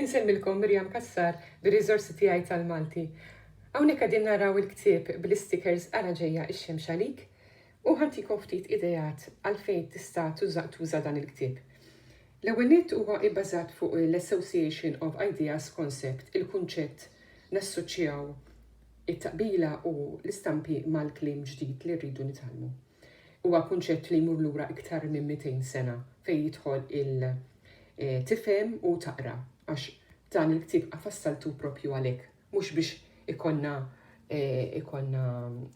Insemmilkom Miriam Cassar bir-riżorsi tiegħi tal-Malti. Hawnhekk qegħdin naraw il-ktieb bl-istikers Ara Ġejja x-Xemx Għalik u ħa ntikom ftit ideat għalfejn tista' tuża dan il-ktieb. L-ewwel nett huwa ibbażat fuq l-Association of Ideas Concept, il-kunċett nassoċjaw it-taqbila u l-istampi mal-kliem ġdid li rridu nitgħallmu. Huwa kunċett li jmur lura iktar minn 200 sena fejn jidħol il tifhem u taqra għax dan il-ktieb fassaltu propju għalhekk mhux biex ikonna eh, ikonna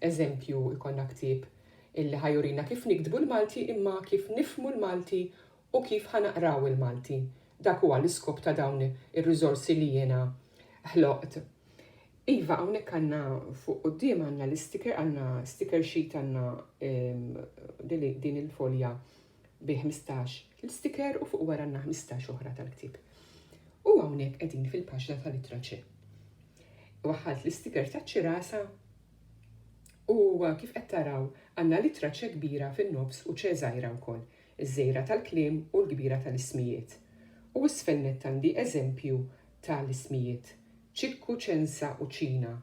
eżempju ikonna ktieb illi ħajurina kif nikdbu l-Malti imma kif nifmu l-Malti u kif ħanaqraw il-Malti. Dak huwa l-iskop ta' dawn ir-riżorsi li jiena ħloqt. Iva hawnhekk għandna fuq quddiem għandna l-isticker, għandna sticker sheet għandna din il-folja bi 15 l-isticker u fuq wara għandna 15 oħra tal-ktieb. U hawnhekk qegħdin fil-paġna tal-ittra ċe. Waħħalt l-isticker taċ-ċirasa u kif qed taraw għandna l-ittra ċe kbira fin-nofs u ċe żgħira wkoll, iż-żgħira tal-kliem u l-kbira tal-ismijiet. U isfel nett għandi eżempju ta' l-ismijiet, Ċikku, Ċensa u Ċina.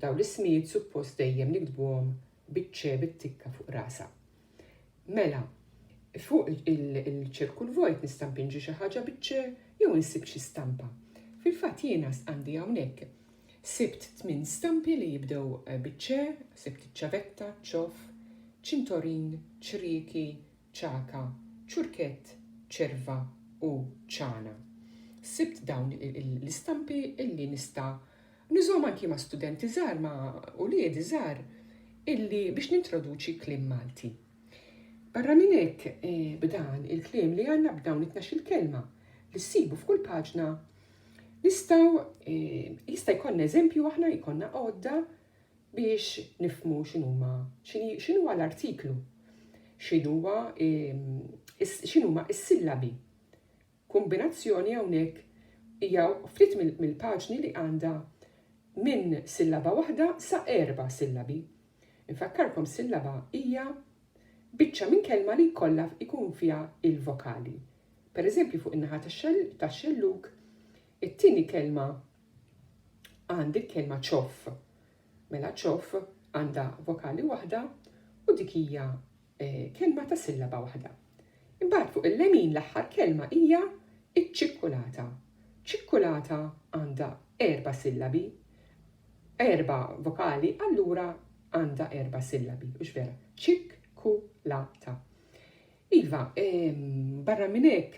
Dawn l-ismijiet suppost dejjem niktbuhom biċ-ċe bit-tikka fuq rasha. Mela, fuq il-ċirku l-vojt nista' mpinġi xi ħaġa biċ-ċe jew insib xi stampa. Fil-fatt jiena għandi hawnhekk sibt tmien stampi li jibdew biċ-ċe, sibt iċ-ċavetta, ċ-ċof, ċintorin, ċrieki, ċaka, ċurkett, ċerva u ċana. Sibt dawn l-istampi illi nista' nużhom anki ma' studenti żgħar ma' uliedi żgħar illi biex nintroduċi kliem Malti. Barra minn hekk eh, b'dan il-kliem li għandna b'dawn it il kelma li ssibu f'kull paġna Nistaw, eh, jista' jkollna eżempju aħna jkollna għodda biex nifhmu x'inhuma x'inhuwa l-artiklu, x'inhuwa x'inhuma s-sillabi. Kombinazzjoni hawnhekk hija ftit mill-paġni li għandha minn sillaba waħda sa erba' sillabi. Infakkarkom sillaba hija biċċa minn kelma li jkollha jkun fiha il-vokali. Per eżempju fuq in-naħa tax-xellug, it-tieni kelma għandi l-kelma ċoff. Mela ċoff għandha vokali waħda u dik hija eh, kelma ta' sillaba waħda. Imbagħad fuq il-lemin l-aħħar kelma hija iċ-ċikkulata. Ċikkulata għandha erba sillabi, erba vokali, allura għandha erba sillabi, u vera, ċikkulata. Iva, barra minn hekk,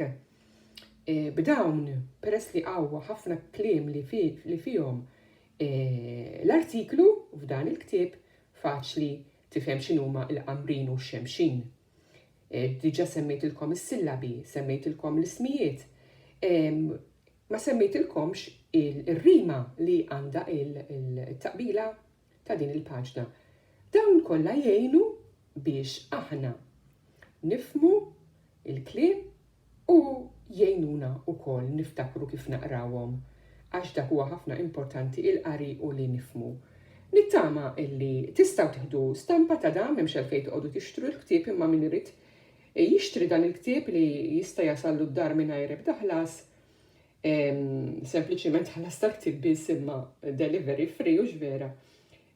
b'dawn peress li hawn ħafna kliem li fihom l-artiklu f'dan il-ktieb faċli tifhem x'inhuma l-qamrin u x-xemxin. Diġà semmejtilkom is-sillabi, semmejtilkom l-ismijiet, ma semmejtilkomx ir-rima li għandha il-taqbila ta' din il-paġna. Dawn kollha jgħinu biex aħna nifhmu l-kliem u jgħinuna wkoll niftakru kif naqrawhom għax dak huwa ħafna importanti il-qari u li nifhmu. Nittama illi tistgħu tieħdu stampa ta' dan m'hemmx għalfejn toqgħodu tixtru l-ktieb imma min irid jixtri dan il-ktieb li jista' jasallu d-dar mingħajr ebda ħlas sempliċiment ħallas tal-ktib biss imma delivery free u x'vera.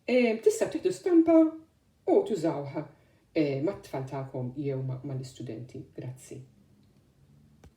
Tista' tieħdu stampa u tużawha mat-tfal tagħkom jew mal-istudenti. Grazzi.